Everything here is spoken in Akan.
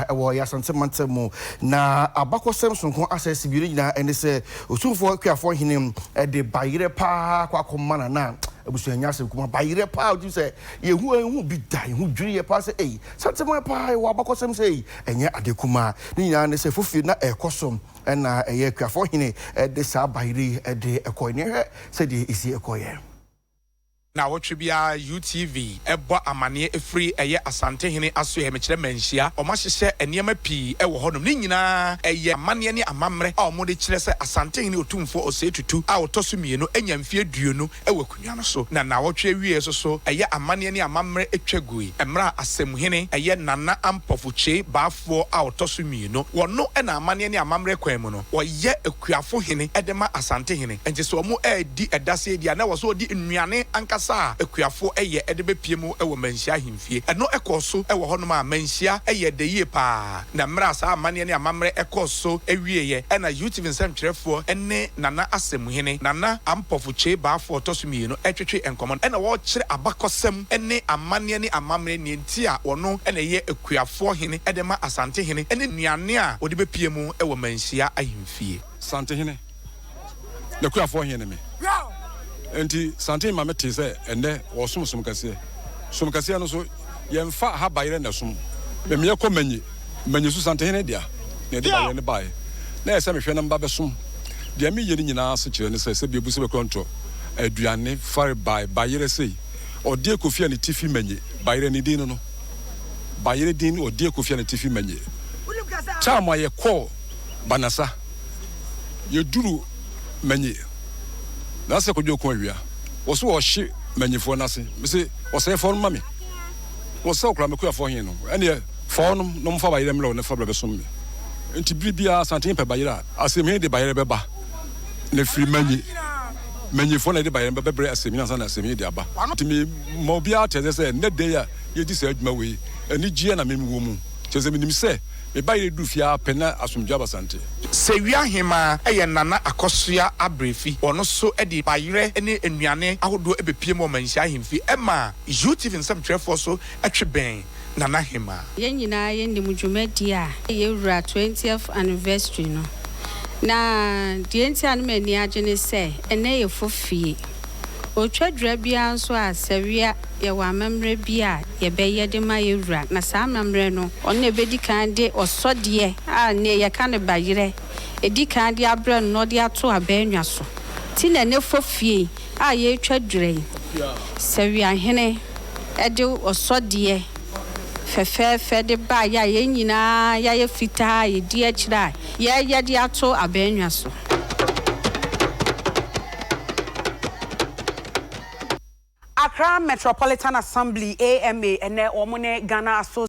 wɔ yɛn Asante mantam mu. Na abakɔsɛm sononko asɛse mmienu nyinaa ne sɛ Osumfoɔ Kuafoɔ Hene de bayerɛ paa kɔ akɔma Nana abusua. Ɛnyɛ asɛm kumaa, bayerɛ paa. Wotumi sɛ yɛhu ɛnhu bi da, yɛhu dwiri yɛ paa sɛ ei, Santeman paa yɛwɔ abakɔsɛm sei. Ɛnyɛ ade kumaa. Ne nyinaa ne sɛ fofie na ɛrekɔ so na ɛyɛ Kuafoɔ Hene de saa bayerɛ yi de kɔeɛ. Na yɛhwɛ sɛdeɛ ɛsi kɔeɛ. Naawɔtwe biara UTV bɔ amaneɛ ɛfiri ɛyɛ Asantehene asoɛɛ mekyerɛ manhyia wɔn ahyehyɛ nneɛma pii wɔ hɔnom ne nyinaa ɛyɛ amaneɛ ne amammerɛ a wɔn de kyerɛ sɛ Asantehene Otumfoɔ Osei Tutu a ɔtɔ so mmienu anya mfeɛ aduonu wɔ akonnwa no so na naawɔtwe awieɛ so so ɛyɛ amaneɛ ne amammerɛ twa gui mmerɛ a Asɛmhene ɛyɛ Nana Ampofo Kyei Bafo Ɔboafoɔ a ɔtɔ so mmienu. Wɔno na amanneɛ ne amammerɛ kwan mu no, ɔyɛ akuafo hene de ma Asante hene. Enti sɛ wɔredi dasee deɛ a, na ɛwɔ sɛ ɔde nnuane ankasa a akuafo yɛ de bɛpue mu wɔ Manhyia ahemfie. Ɛno kɔɔ so wɔ hɔnom a Manhyia yɛɛ dɛ yie pa ara. Na mmerɛ a saa amanneɛ ne amammerɛ kɔɔ so wieeɛ na UTV nsɛntwerɛfoɔ ne Nana Asɛmhene, Nana Ampofo Kyei Baafoɔ ɔtɔ so mmienu, retwetwe nkɔmmɔ no na wɔrekyerɛ abakɔsɛm. ne amanneɛ ne amammerɛ nea enti a ɔno na ɛyɛ akuafoɔ hene de ma Asantehene ne nnuane a ɔde bɛpue mu wɔ Manhyia ahemfie. Santehene, n'akuafoɔ he ne me. Nti Santene ma me tee sɛ ɛnnɛ wɔɔsom som kɛseɛ. Som kɛseɛ no nso yɛmfa ha bayerɛ na ɛsom. Memeɛ kɔ Manye, Manye so Santehene dea na yɛde bayerɛ no baeɛ. Na ɛsɛ mehwɛ na meba bɛsom. Deɛ meyɛ no nyinaa asekyerɛ ne sɛ sɛbi abu sɛ bɛkɔntɔ aduane fare bae bayerɛ sei. ɔde akofie a ne ti fi manye, bayerɛ ne din no no, bayerɛ din no ɔde akofie a ne ti fi manye, taa ma yɛkɔɔ Banasa, yɛduru manye, na sɛ kɔdwo ko awia, wɔso wɔhye manyefoɔ no ase, mese wɔsɛe fɔɔ no ma me, wɔsɛw koraa makuafoɔ he no, ɛneɛ fɔɔ no na ɔmfa bayerɛ mmrɛ wo na fa bra bɛsom me, nti bere biaa Asantehene pɛ bayerɛ a, asɛm he de bayerɛ bɛba. na ɛfiri manyi manyifoɔ na ɛde baeɛ no bɛbrɛ asɛmhini ansa na asɛmhini de aba. Nti mema obiara ateaseɛ sɛ ɛnnɛ da yi a yɛdi saa adwuma wei, anigyeɛ na mewɔ mu. Kyerɛ sɛ menim sɛ me ba yere duru fie ara pɛ na asomdwoeɛ aba Asante. Sewia Hemaa yɛ Nana Akosua Abrɛfi. Ɔno nso de bayerɛ ne nnuane ahodoɔ bɛpiem wɔ Manhyia Ahemfie. Ɛma UTV nsɛmtwerɛfoɔ nso twe bɛn. Nana Hemaa. Yɛn nyinaa yɛnim dwumadie a yɛwura 20th anniversary no. Na deɛ enti a na m'ani agye ne sɛ ɛnnɛ yɛ fo fie. Otwadura biara nso a sɛwia yɛwɔ amammerɛ bi a yɛbɛyɛ de ma yɛwura na saa amammerɛ no, ɔno na ɛbɛdi kan de ɔsɔdeɛ a nnɛ yɛka no bayerɛ ɛdi kan de abrɛ no na ɔde ato abannwa so nti na ɛnnɛ fo fie a yɛretwa dwerɛ yi, sɛ Wiahene de ɔsɔdeɛ fɛfɛɛfɛ de baeɛ a yɛn nyinaa yɛayɛ fitaa a yɛdi akyire a yɛreyɛ de ato abannwa so. Accra Metropolitan Assembly, AMA, ɛnnɛ wɔn ne Ghana Asso.